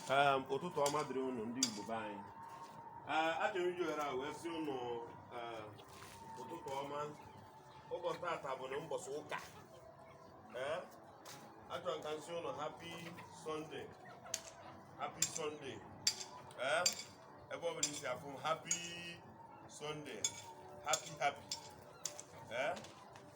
um, ụtụtụ ọma dịrị ụnụ ndị Igbo be anyị uh, achọrọ iji ohere a wee sị ụnụ uh, ụtụtụ ọma ụbọchị tata bụ na mbọchị ụka uh, achọrọ ka m sị ụnụ happy Sunday happy Sunday ebe ọ bụla i si afụ m happy Sunday happy happy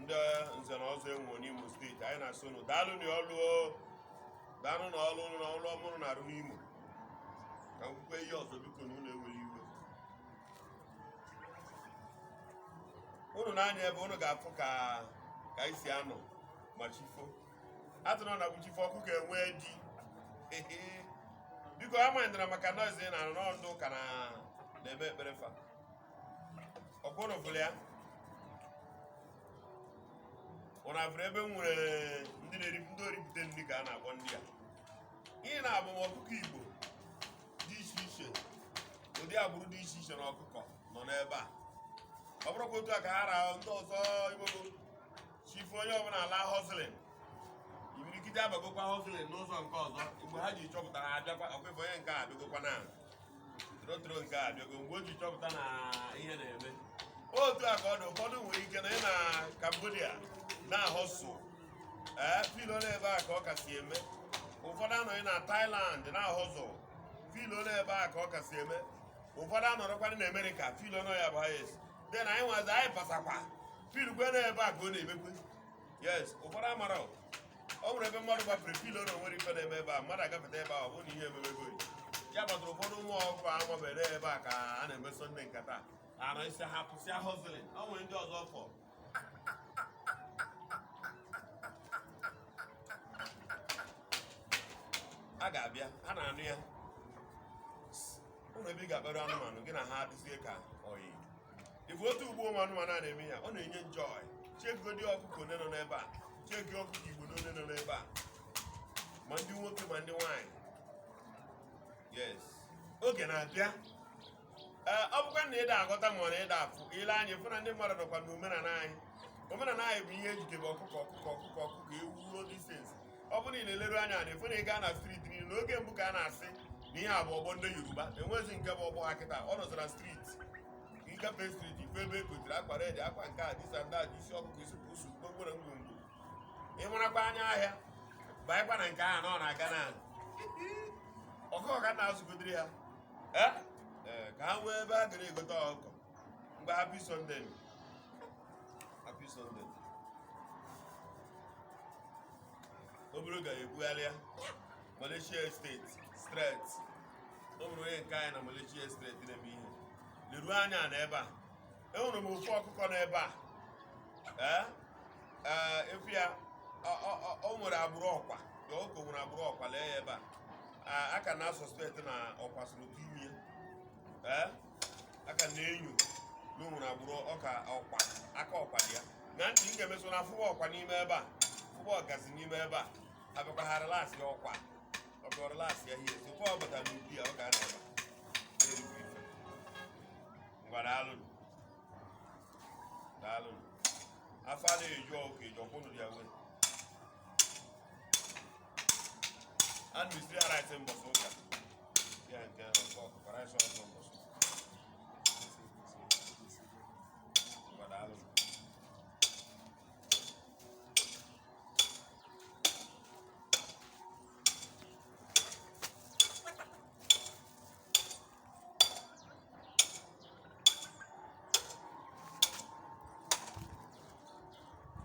ndị nze na ọzọ e nwe n'Imo steeti anyị na-asị unu daalụ na ọlụ daalụ na ọlụ na ọlụ ọma unu na-arụ n'Imo ka m kwukwe ihe ọzọ biko na unu ewere iwe unu na-anya ebe unu ga-afụ ka ka anyị si anọ ma chi fo atụrụ na ewu chi fo ọkụkọ e nwe dị biko amanyịdara maka noise ị na-anụ ndị ụka na na-eme ekpere fa ọkwa ụnụ fụrụ ya ụnụ afụrụ ebe m nwere ndị na-eri ndị oripụta nri ka a na-akpọ ndị a ihe na-abụ m ọkụkọ igbo dị iche iche ụdị agbụrụ dị iche iche na ọkụkọ nọ n'ebe a ọ bụrụkwa otu a ka ha rahụ ndị ọzọ igbo chi fo onye ọ bụla ala hustling imirikiti abagokwa hustling n'ụzọ nke ọzọ mgbe ha ji chọpụta ha abịakwa ọkwa ị fụ onye nke a abịagokwa na torotoro nke a abịago mgbe o ji chọpụta na ihe na-eme otu a ka ọ dị ụfọdụ nwere ike nọ na Cambodia na-ahọsụ ee feel na ebe a ka ọ kasị eme ụfọdụ anọghị na Thailand na-ahọzụ feel na ebe a ka ọ kasị eme ụfọdụ anọrọkwanị na Amerịka feel na ọ ya bụ highest then anyị nwazi anyị pasakwa feelkwe na ebe a ka ọ na-emekwe yes ụfọdụ amara ọ nwere ebe mmadụ gbafere feel na o nwere ife na-eme ebe a mmadụ agafeta ebe a ọ bụrụ na ihe ememego ya gbatara ụfọdụ ụmụ ọkụkọ amabere ebe a ka a na-eme Sunday nkata ana isi ha pụsịa hustling ọ nwere ndị ọzọ fọ a ga-abịa a na-anụ ya ụlọ ebe ị ga-akpara anụmanụ gị na ha adịzie ka oyi ị fụ otu ugbo ụmụ anụmanụ a na-eme ya ọ na-enye m joy chegodi ọkụkọ one nọ n'ebe a chegi ọkụkọ igbo one nọ n'ebe a ma ndị nwoke ma ndị nwaanyị yes oge na-abịa ee ọ bụkwa na ị da aghọta ma ọ na ị da afụ i lee anya fụ na ndị mmadụ nọkwa na omenala anyị omenala anyị bụ ihe e jikebe ọkụkọ ewu all these things ọ bụrụ na ị na-eleru anya ị fụ na ị gaa na street niile n'oge mbụ ka a na-asị na ihe a bụ ọgbọ ndị yoruba e nwezi nke bụ ọgbọ ha kịta ọ nọzi na street ị gafe street ị fụ ebe e kotere akwa red akwa nke a disa ndị a dị isi ọkụkọ isi pusu kpokporo ngwongwo ị marakwa anya ahịa baịkwa na nke ahụ na ọ na-aga na ọkụkọ ka m na-azụgodiri ha Eh? Eh, ka ha nwee ebe ha gara egote ọkụkọ mgbe happy sunday happy sunday obere ga ebugharịa malaysia street street o nwere onye nke anyị na malaysia street na-eme ihe leruo anya na ebe a enwere m ofu ọkụkọ na ebe a ee ee ị fụ ya ọ- ọ- ọ- o nwere agbụrụ ọkwa ya ọkụkọ nwere agbụrụ ọkwa lee ya ebe a a ka na-asọspekt na ọkwa soro dị ime ya ee a ka na-enyo na o nwere agbụrụ ọka ọkwa aka ọkwa dị ya na ntị m ga-emeso na afụba ọkwa n'ime ebe a fụba ọgazi n'ime ebe a abịakwa ha relasị ya ọkwa ọkwa relasị ya ihe tupu ọ bata n'ubi ya ọ ga-anọ ebe a. Na-erikwa ife. ngwa daalụnụ daalụnụ afọ adịghị eju ọkụ eju ọkwụnụ ya wee a na-esiri ya rice mbọsị ụka ya nke ọkụ ọkụkọ rice ọkụ mbọsị Ngwa daalụ.